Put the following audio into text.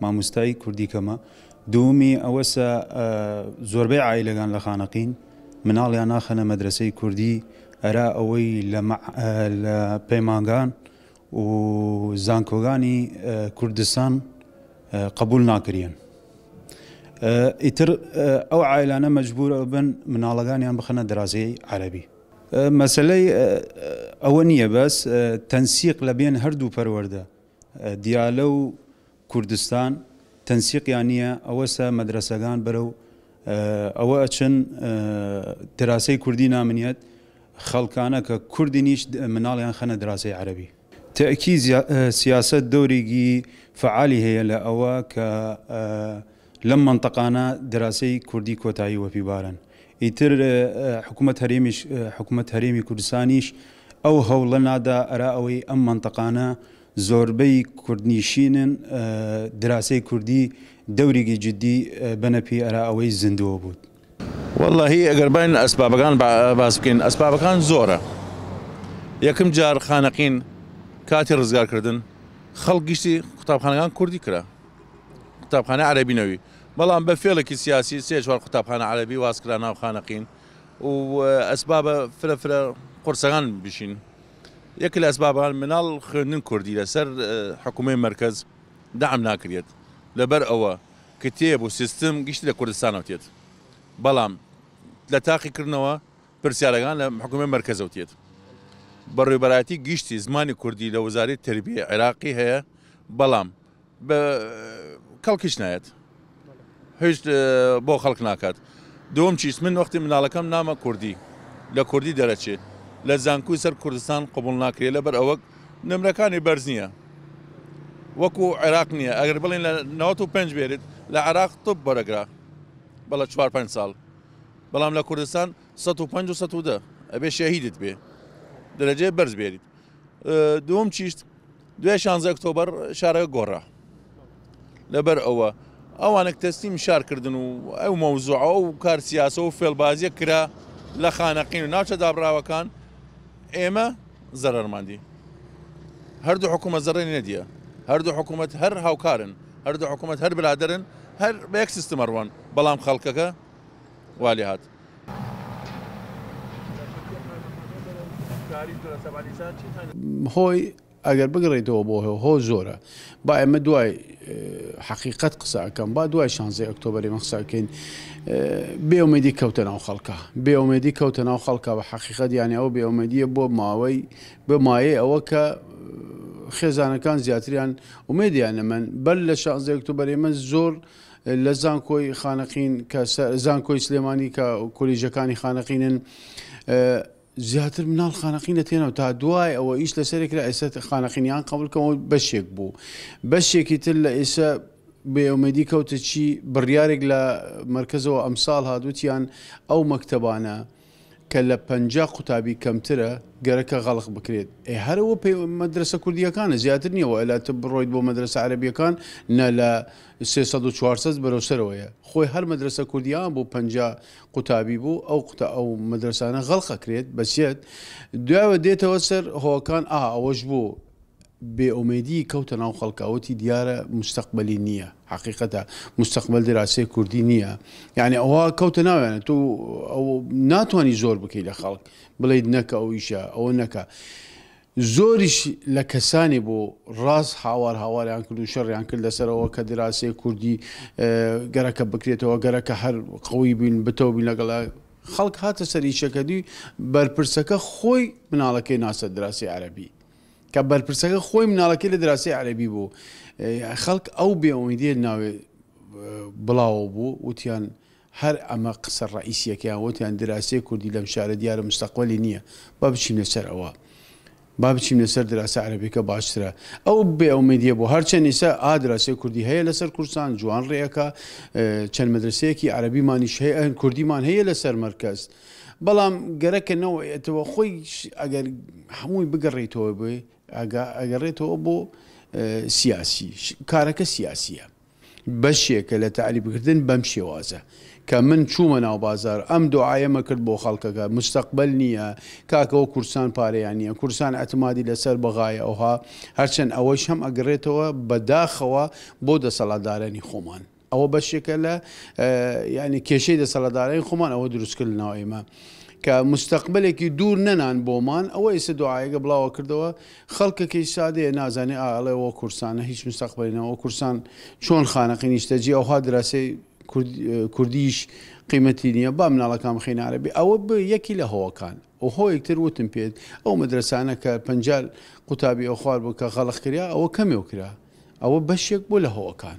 ماموستای کوردی کەمە دوومی ئەوەسە زۆربەی عیلەگان لە خانەقین مناڵیان ناخەنە مەدرسەی کوردی ئەرا ئەوەی لە پەیمانگان و زانکۆگانی کوردستان قبول ناکرێن ئیتر ئەو عیلانە مەجبور بن مناڵەکانیان بخەنە درازەی عەربی مەسلەی ئەوە نییە بەس تەنسیق لە بێن هەردوو پەروەەردە دیالە و کوردستان تەنسیقیان نییە ئەوەسە مەدرەسەگان بەرەو ئەوە ئەچن دراسەی کوردی نامنیەت خەڵکانە کە کوردی نیش مناڵیان خەنە دراسەی عەرەبی. تەئکی سیاسەت دەورێگی فەعالی هەیە لە ئەوە کە لەم مەنتەقانە دراسەی کوردی کۆتایی وەپی بارن. ئیتر حکومەت هەرێمیش حکومەت هەرێمی کوردستانیش ئەو هەوڵە نادا ئەرا ئەوەی ئەم مەنتەقانە زۆربەی کوردنیشینن دراسەی کوردی دەوریگی جدی بەنە پی ئەرا ئەوەی زندووە بوود. وەللەهی ئەگەر باین ئەسبابەکان باس بکەین ئەسبابەکان زۆرە یەکم جار خانەقین کاتی ڕزگارکردن خەڵک گشتی قوتابخانەکان کوردی کرا قوتابخانەی عەرەبی نەوی بەڵام بە فێڵێکی سیاسی سێ چوار قوتابخانە عەرەبی واز کرا ناو خانەقین و ئەسبابە فرە فرە قورسەکان بشین یەک لە ئەسبابان مناڵ خوێندن کوردی لەسەر حکومەی مەرکەز دەعم ناکرێت لەبەر ئەوە کتێب و سیستم گشتی لە کوردستانەوە تێت بەڵام لە تاقی کردنەوە پرسیارەکان لە حکومەی مەرکەزەوە تێت بەڕێوبەرایەتی گشتی زمانی کوردی لە وەزاری تربیە عێراقی هەیە بەڵام بە کەڵکیش نایەت هیچ بۆ خەڵک ناکات دوم چیس من وەختی مناڵەکەم نامە کوردی لە کوردی دەرەچێ لە زانکوی سەر کوردستان قوبڵ ناکرێت لەبەر ئەوەک نمرەکانی بەرز نییە وەکو عێراق نییە ئەگەر بڵین لە 95 بێرێت لە عراق طب بەرەگرا بەڵە 4 5 ساڵ بەڵام لە کوردستان 1510 ئەبێ شەهیدت بێ دەرەجێ بەرز بێریت دوم چیشت دوای شانزە ئۆکتۆبەر شارەکە گۆڕا لەبەر ئەوە ئەوانێک تەسلیم شار کردن و ئەو مەوزوعە و کار سیاسە و فێڵبازیە کرا لە خانەقین و ناوچە دابراوەکان ئێمە زەرەرماندی هەردوو حکوومەت زەڕێنی نەدیە هەردوو حکوومەت هەر هاوکارن هەردوو حکوومەت هەر برادرن هەر بە یەک سیستمەڕوان بەڵام خەڵکەکە والی هات هۆی ئەگەر بگەڕێیتەوە بۆ هۆ هۆ زۆرە با ئێمە دوای حەقیقت قسە ئەەکەم با دوای شانزی ئۆکتۆبری مە قسەکەین بێومێدی کەوتە ناو خەڵکە بێومێدی کەوتە ناو خەڵکە بە حەقیقت یانە ئەو بێومێدیە بۆ ماوەی بە مایە ئەوە کە خێزانەکان زیاتریان ومێدیان لە من بەر لە شانزی ئۆکتۆبری من زۆر لە زانکۆی خانەقین کە زانکۆی سلێمانی کە کۆلیژەکانی خانەقینن زیاتر مناڵ خانەقینە تێنەوە تا دوای ئەوە ئیش لەسەرێک لە ئێستا خانەقینیان قبلکەەوە بەشێک بوو بەشێکی تر لە ئێستا بێومێدی کەوتە چی بڕیارێک لە مرکزەوە ئەمساڵ هادوتیان ئەو مەکتتەبانە کە لە پەنجا قوتابی کەمترە گەرەکە غەڵق بکرێت ئێ هەرە وە پێ مەدرەسە کوردیەکانە زیاتر نیە وە ئەلا تۆ بڕۆیت بۆ مەدرەسە عەرەبیەکان نە لە سێ سەد و چوار سەد بەرەو سەرەوەیە خۆی هەر مەدرەسە کوردیان بوو پەنجا قوتابی بوو ئەو قوتە ئەو مەدرەسانە غەڵق ئەکرێت بەسیەت دوایەوە دێتەوە سەر هۆکان ئا ئەوەش بوو بێ ئومێدیی کەوتە ناو خەڵکا وتی دیارە موستەقبەلی نییە حەقیقەتە موستەقبەل دراسی کوردی نییە یانی ئەوە کەوتە ناویانە تۆ ئەو ناتوانی زۆر بکەی لە خەڵک بڵیت نەکە ئەو ئیشە ئەوە نەکە زۆریش لە کەسانی بۆ ڕاست هاوار هاواریان کرد و شەڕیان کرد لەسەرەوە کە دراسی کوردی گەرەکە بکرێتەوە گەرەکە هەر قوی بین بتەو بین لەگەڵ خەڵک هاتە سەر ئیشەکەدی بەرپرسەکە خۆی مناڵەکەی ناسە دراسی عەربی کە بەرپرسەکە خۆی مناڵەکەی لە دراسی عەرەبی بوو خەڵک ئەو بێ ئومیدیە ناوێ بڵاوە بوو وتیان هەر ئەمە قسە ڕئیسیەکەیان وتیان دراسی کوردی لەم شارە دیارە مستەقبلی نییە با بچین لەسەر ئەوە با بچین لەسەر دراسی عەربیکە باشترە ئەو بێ ئومیدیە بۆ هەرچەند ئیسا ئادراسی کوردی هەیە لەسەر کورسان جوان ڕێەکە چەند مەدرسەیەکی عەربیمانیش هەیە کوردیمان هەیە لەسەر مەرکەست بەڵام گەرەکە نەوەێتەوە خۆی ئەگەر هەمووی بگەڕێیتەوە بێ ئەگەڕێتەوە بۆ سیاسی کارەکە سیاسیە بەشێکە لە تعلی بکردن بەم شێوازە کە من چوومە ناو بازار ئەم دوعاەمە کرد بۆ خەڵکەکە مستەقبل نییە کاکەەوە کورسان پارەیان نییە کورسان ئەتمادی لەسەر بەغایە ئەوها هەرچەند ئەوەش هەم ئەگرێتەوە بەداخەوە بۆ دەسەڵاتدارانی خۆمان ئەوە بەشێکە لە یعنی کێشەی دەسەڵاتدارانی خۆمان ئەوە دروست کردنەوە ئێمە کە مستەقبلێکی دوور نەنان بۆمان ئەوە ئێستا دوعاەکە بڵاوە کردەوە خەڵکەکەی سادەیە نازانێ ئاڵێ وە کورسانە هیچ مستەقبلینەوە کورسان چۆن خانەقی نیشتەجی ئەوها دراسی کوردیش قیمەتی نییە با مناڵەکان خینە عربی ئەوە یەکی لە هۆکان و هۆیەکتر وتم پێت ئەو مەدرسانە کە پنجال قوتابی ئەو خوار بوو کە غەڵق کرا ئەوە کەمێو کرا ئەوە بەشێک بۆ لە هۆکان